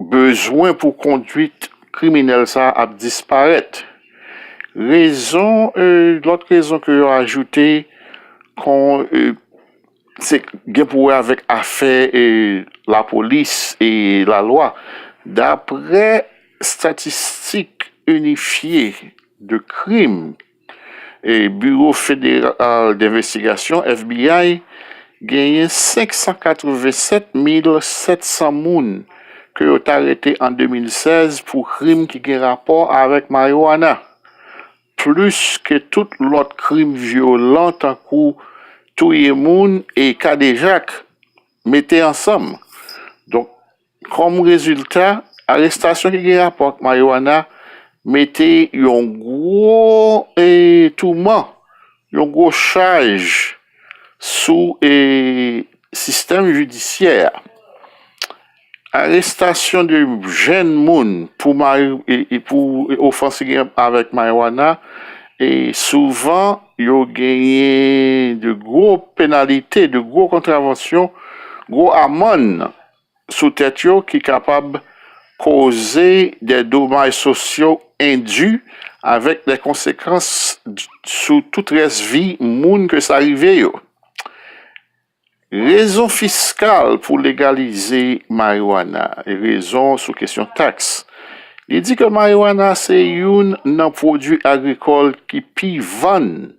Bezwen pou konduit kriminèl sa ap disparèt. Rezon lòt rezon ke yo ajoute kon se gen pou wè avèk afè lapolis e lalwa. Daprè statistik inifye de krim. Biwo Federal Denvestigasyon, FBI, genyen 587 mil 700 moun ke yo t arete an 2016 pou krim ki gen rapò avèk mariwana, plis ke tout lòt krim vyolan tankou touye moun e kadejak mete ansanm. Kòm rezilta, arestasyon ki gen rapò ak mariwana mete yon gwo touman, yon gwo chaj sou sistèm jidisyè a. Arestasyon de jenn moun pou ofans ki gen rapò avèk mariwana, souvan yo genyen de gwo penalite, de gwo kontravansyon, gwo amann. sou tèt yo ki kapab koze de domaj sosyo endu avèk de konsekans sou tout rès vi moun ke sa rive yo. Rezon fiskal pou legalize mariwana, rezon sou kesyon taks. Li di ke mariwana se youn nan pwodui agrikòl ki pi vann.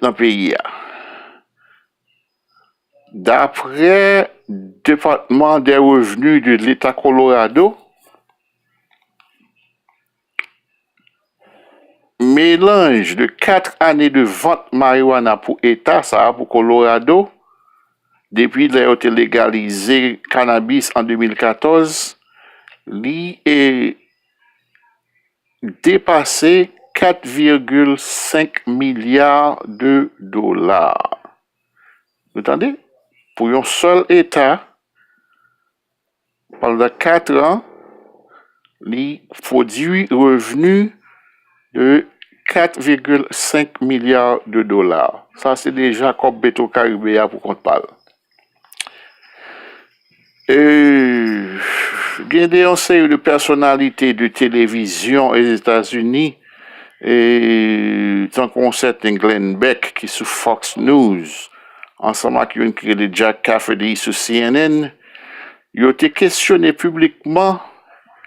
nan peyi a. Daprè Department des Revenus de l'Etat Colorado, melanj de 4 ane de vant marijuana pou eta sa a, pou Colorado, depi lè yo te legalize cannabis an 2014, li. depase 4,5 milya de dola, nou tande, pou yon sèl eta pandan 4 an li pwodui revni de 4,5 milya de dola, sa se deja kòb petro karibe a pou kont pa l. Gen de yon seri de pèsonalite de televizyon Ozetazini, tankou yon sèten Glenn Beck ki sou Fox News, ansanm ak youn ki rele Jack Cafferty sou cnn, yo te kesyone piblikman,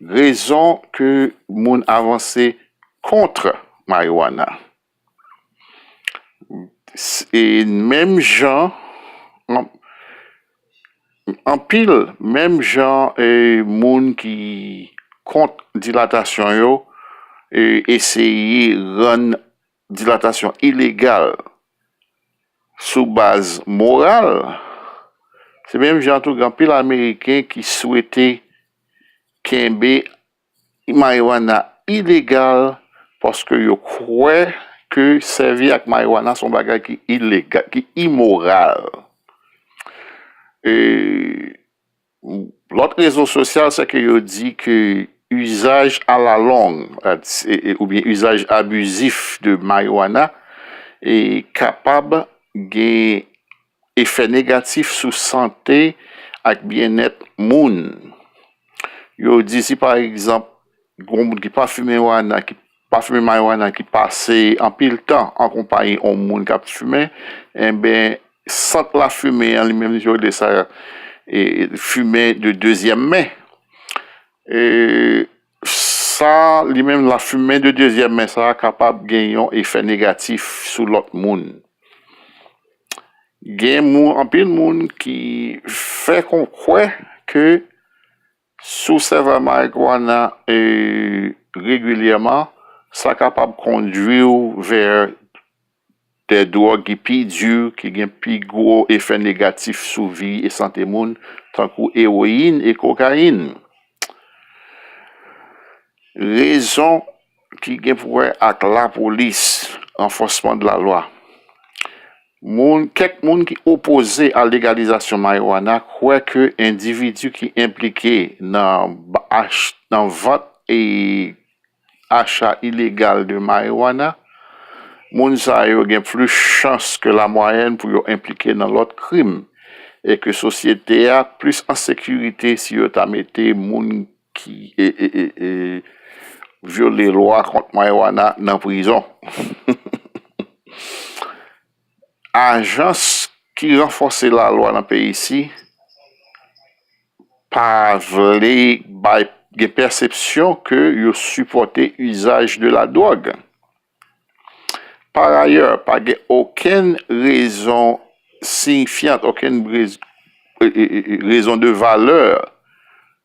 Rezon ke moun avanse kontre marijuana e menm jan anpil menm jan moun ki kont dilatasyon yo eseye rann dilatasyon ilegal sou baz moral, se menm jan tou gen anpil ameriken ki swete kenbe marijuana ilegal paske yo kwè ke sèvi ak marijuana se yon bagay ki ilegal, ki imoral. Lòt rezo sosyal se ke yo di ke uzaj a la long oubyen uzaj abizif de marijuana kapab gen efè negatif sou sante ak byennèt moun. Yo di si pa egzanp Gwo moun ki pa fimen wana, ki pa fimen marijuana, ki pase anpil tan an konpayi yon moun k ap fimen, enben sant lafimen an li menm li rele sa fimen de dezyèm men. Sa li menm lafimen de dezyèm men sa a kapab gen yon efè negatif sou lòt moun. Gen moun anpil moun ki fè kon kwè ke Si w sèvè marikwana regilyèman, sa kapab kondwi w vè de dwòg ki pi di, ki gen pi gwo efè negatif sou vi e sante moun, tankou ewoyin e kokayin. Rezon. ki gen pou wè ak lapolis, anfòsman de la lwa. Moun, kèk moun ki opoze a legalizasyon marijuana kwè ke endividi ki enplike nan ach, nan vant e acha ilegal de marijuana, moun sa yo gen plis chans ke la mwayèn pou yo enplike nan lòt krim e ke sosyete a plis an sekirite si yo ta mete moun ki vyole lwa kont marijuana nan prizon. Ajans ki ranfòse lalwa nan peyi si pa vle bay gen pèsepsyon ke yo sipòte usaj de la dwòg. Par ayè, pa gen okenn rezon siyifyan, okenn rezon de valè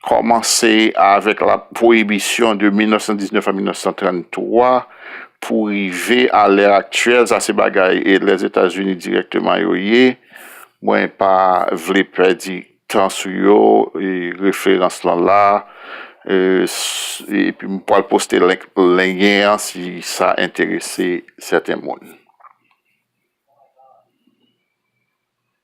Kòmanse avèk la pwoyibisyon de 1919 a 1933 pou rive a lè aktyèl, sa se bagay Lèzetazini dirèkteman yo ye, mwen pa vle pèdi tan sou yo, referans lan la, epi m pral poste lyen an si sa enterese sèten moun.